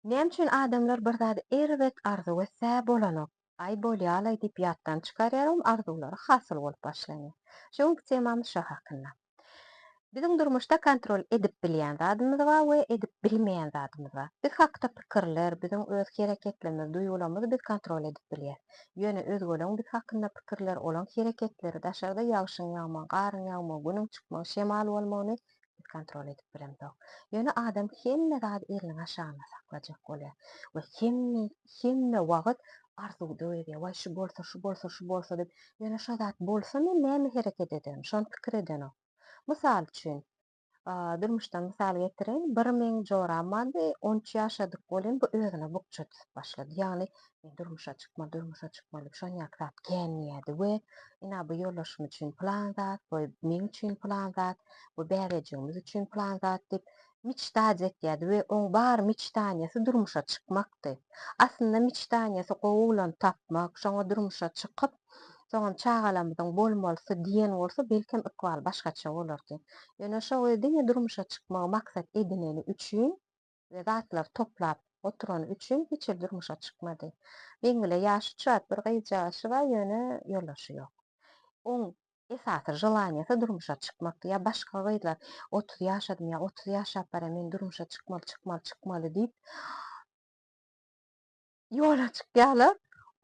Näme üçin adamlar bir zady erbet arzuw etse bolanok, aý bolýalaý diýip ýatdan çykarýar oň arzuwlary hasyl bolup başlanýar. Şu günki temamyz şo hakynda. Biziň durmuşda kontrol edip bilýän zadymyz bar we edip bilmeýän zadymyz bar. Biz hakda pikirler, biziň öz hereketlerimiz, duýgularymyzy biz kontrol edip bilýäs. Ýöne özgeleň biz hakynda pikirleri, olaň hereketleri, daşarda ýagşyň ýagmagy, garyň ýagmagy, günüň çykmagy, şemal bolmagyny kontrol edip bilemzok. Ýöne adam hemme zady eliniň aşagynda saklajak bolýar we hemme hemme wagt arzuwda gezýär. Waý şu bolsa, şu bolsa, şu bolsa diýip, ýöne şo zat bolsa men näme hereket ederin, şony pikir edenok. Mysal üçin, durmuşdan mysal getireýin, bir meň joram bardy, on üç ýaşadyk welin bu özüne bukja düzüp başlady. Ýagny durmuşa çykma, durmuşa çykma diýip şon ýaly zat gelmeýärdi we ina bu ýoldaşym üçin plan zat, bu meň üçin plan zat, bu bäbejigimiz üçin plan zat diýip miçdaj etýärdi we oň bar miçdaniýesi durmuşa çykmakdy. Aslynda miçdaniýesi gowy oglany tapmak, şoňa durmuşa çykyp, soňam çagalarymyzyň bolmalysy diýen bolsa belkem ykbaly başgaça bolardy. Ýöne şo gyz diňe durmuşa çykmagy maksat edineni üçin we zatlary toplap oturany üçin hiç hili durmuşa çykmady. Meňlä ýaşy çat bir gyzjagazy bar, ýöne ýoldaşy ýok. Oň esasy želaniýasy durmuşa çykmakdy. Ýa başga gyzlar otuz ýaşadym ýa otuz ýaşap barýan men durmuşa çykmaly, çykmaly, çykmaly diýip, Ýola çykýarlar.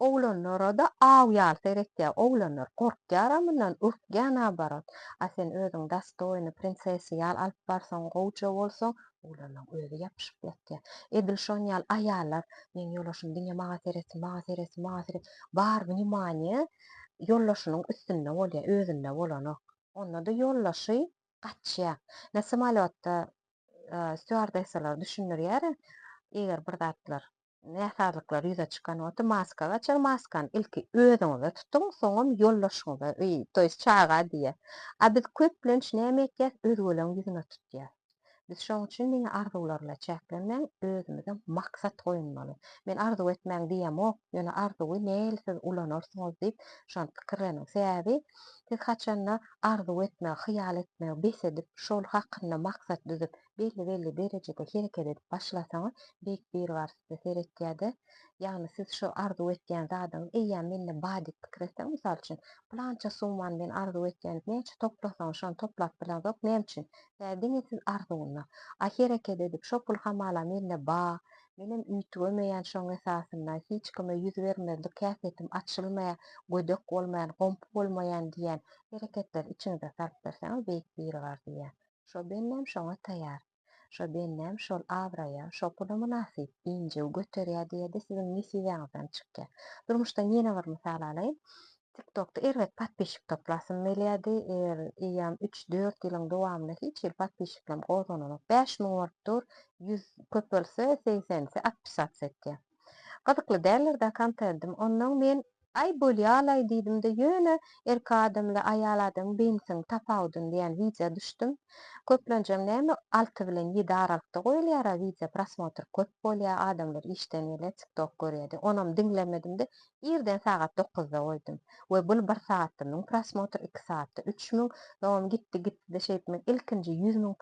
Oglanlara-da aw ýaly seretýär. Oglanlar gorkýar-a mundan, ürkýär naoborat. A sen özüň dostoýny prinsessa ýaly alyp barsaň, gowja bolsaň, oglanyň özi ýapyşyp ýatýar. Edil şon ýaly aýallar, meň ýolaşym diňe maňa seretsin, maňa seretsin, maňa seretsin. Bar wнимaniýe ýoldaşynyň üstünde bolýar, özünde bolanok. Onda-da ýoldaşy gaçýar. Ine, samolýotda stýuardessalar düşündirýär-ä, eger bir zatlar näsazlyklar ýüze çykan bolsa maska gaçar, maskany ilki özüňize tutuň, soňam ýoldaşyňyza, öý, to ýest çaga diýýär. A biz köplenç näme etýäs, özgeleň ýüzüne tutýas. Biz şoň üçin diňe arzuwlar bilen çäklenmäň, özümize maksat goýunmaly. Men arzuw etmäň diýemok, ýöne arzuwy nähili siz ulanarsyňyz diýip şony pikirleniň. Sebäbi siz haçanda arzuw etmegi, hyýal etmegi bes edip, şol hakynda maksat düzüp, belli-belli derejede hereket edip başlasaňyz, Beýik Biribar size seretýär-de, ýagny siz şo arzuw etýän zadyňyz eýýäm mende bar diýip pikir etseň, mysal üçin, pylança summany men arzuw etýän, näçe toplasaňyz şony toplap bileňzok, näme üçin? Bä diňe siz arzuwyna. A hereket edip şo pul hamala mende ba, menem üýtgemeýän şoň esasynda, hiç kime ýüz bermezlik häsiýetim açylmaýar, gödek bolmaýan, gomp bolmaýan diýýän hereketleri içiňize salyp berseňiz Beýik Biribar diýýär. Şo bennem şoňa taýar. Şo bennem şol abraýa, şo pula mynasyp, injiw, göterýä diýede siziň nesibäňizden çykýa. Durmuşdan ýene bir mysal alaýyn. Tiktokda erbet podpişik toplasym gelýädi. Er, eýýam üç, dört ýylyň dowamynda hiç hili podpişiklem gozgananok. Bäş müň bolup dur, ýüz, köp bolsa segsenisi atpysats etýä. Gyzykly däldir-dä kontentim. Onnoň men Aý bolýalaý diýdim-de ýöne erki adamly aýal adamyň beýnisiniň tapawudyny diýýän wideo düşdüm. Köplenjem näme alty bilen ýedi aralykda goýulýara wideo prosmotr köp bolýa adamlar işden gelýä tiktok görýädi onam diňlemedimde irden sagat dokuzda goýdum we bul bir sagatda müň prosmotr iki sagatda üç müň soňam gitdi gitdide şeýdip men ilkinji ýüz müň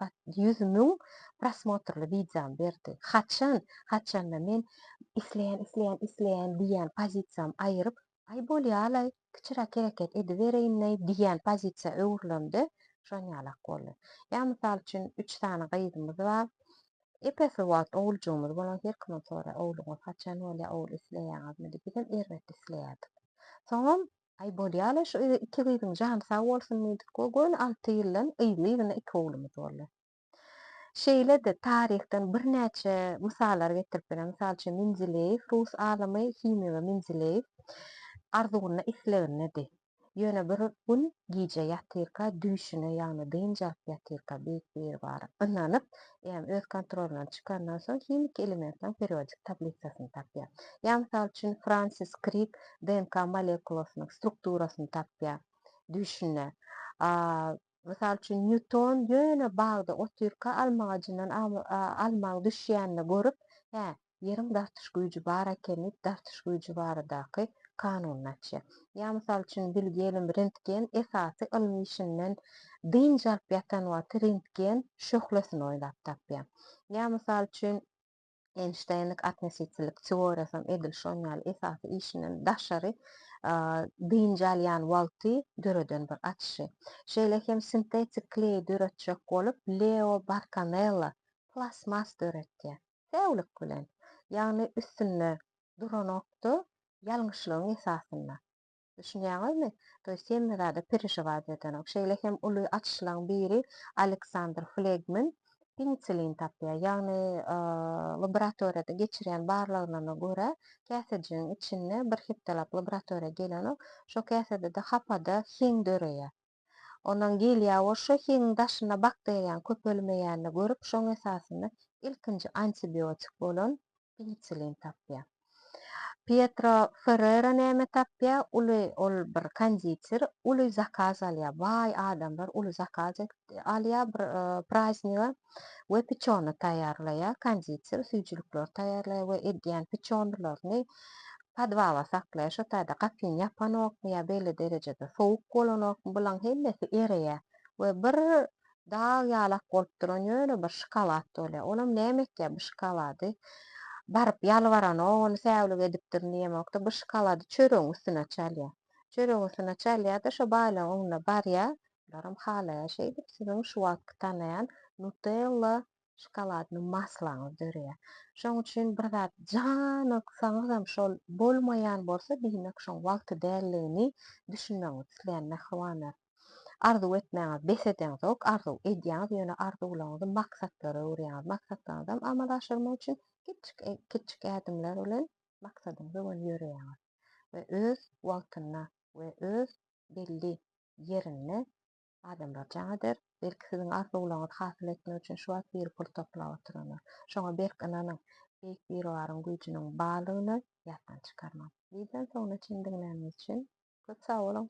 ýüz müň prosmotrly wideomy berdi haçan haçanda men isleýän isleýän isleýän diýýän pozisiýam aýyryp aý bolýalaý kiçiräk hereket edibereýinleý diýýän pozisiýa öwrülemde şon ýalak boldy ýa mysal üçin üç sany gyzymyz bar epesli wagt oguljygymyz bolan her kimem soraýar ogluňyz haçan bolýa ogul isleýäňizmi diýip bizem erbet isleýärdik soňam aý bolýalaý şu iki gyzyň jany sag bolsun diýdik we göni alty ýyldan yzly yzyna iki oglumyz boldy Şeýle-de taryhdan birnäçe mysallar getirip bileris. Mysal üçin, Mendileýew, rus alymy, himigi we Mendileýew Arzygunda islegindedi. Ýöne bir gün gije ýatyrka düýşüne, ýagny dynç alyp ýatyrka beýik Biribar ynanyp, ýagny öz kontrolyndan çykandan soň himiki elementleriň periodik tablisasyny tapýar. Ýa mysal üçin, Fransis Krik DNK molekulasynyň strukturasyny tapýar düýşünde. Mysal üçin, Nýuton ýöne bagda otyrka alma agajyndan almaň düşýänini görüp, Hä, ýeriň dartyş güýji bar eken diýip, dartyş güýji baradaky kanunyny açýar. Ýa mysal üçin, bilgi ylym rentgen esasy ylmy işinden dynç alyp ýatan wagty rentgen şöhlesini oýlap tapýar. Ýa mysal üçin, Eýnşteýnlik atnesitçilik teoriýasam edil şoň ýaly esasy işinden daşary dynç alýan wagty döreden bir açyşy. Şeýle hem sintetik kleý döretjek bolup Leo Bartonella plastmas döretýär. Säwlik bilen! Ýagny üstünde duranok-da, ýalňyşlygyň esasynda. Düşünýäňizmi? To ýest hemme zada perežiwat edenok. Şeýle hem uly açyşlaň biri Aleksandr Flegmin penisilin tapýar. Ýagny laboratoriýada geçirýän barlaglaryna görä, käsejigiň içinde bir hepdelap laboratoriýa gelenok. Şo käsedede hapada heň döreýär. Onam gelýär-o şo hiňiň daşyna bakteriýaň köpelmeýänini görüp şoň esasynda ilkinji antibiotik bolan penisilin tapýar. Pietro Ferrera näme tapýar? Uly ol bir konditer uly zakaz alýar. Baý adamlar uly zakaz alýar bir prazniga we piçony taýýarlaýar. Konditer süýjülikleri taýýarlaýar we edýän piçonylaryny Podwala saklaýar, şo taýda gapyny ýapanokmy ýa belli derejede sowuk bolanokmy, bulaň hemmesi ereýär we bir dag ýalak bolup duran ýöne bir şokolad bolýar. Olam näme etýär bu şokolady? Baryp ýalbaranok, ony säwlik edipdirin diýemok-da, bu şokolady çöregiň üstüne çalýar. Çöregiň üstüne çalýar-da, şo baýlygyň öňüne barýar, bularam halaýar şeýdip, siziň şu wagtky tanaýan Nutella şokoladny maslaňyz döreýär. Şonuň üçin bir zat janyksaňyzam şol bolmaýan bolsa diýmek şoň wagty däldigini düşünmegiňizi isleýän mähribanlar. Arzuw etmäňiz bes edeňzok, arzuw edýäňiz ýöne arzuwlaryňyzy maksatlara öwürýäňiz. Maksatlaryňyzam amala aşyrmak üçin kiçjik kiçjik ädimler bilen maksadyňyza göni ýöreýäňiz we öz wagtynda we öz belli ýerinde Adamlar jaň eder. Belki siziň arzuwlaryňyzy hasyl etmek üçin şu wagt biri pul toplap oturandyr. Şoňa berk ynanyň. Beýik Biribaryň güýjüniň barlygyny ýatdan çykarmaň. Birden soňuna çenli diňläniňiz üçin köp sag boluň!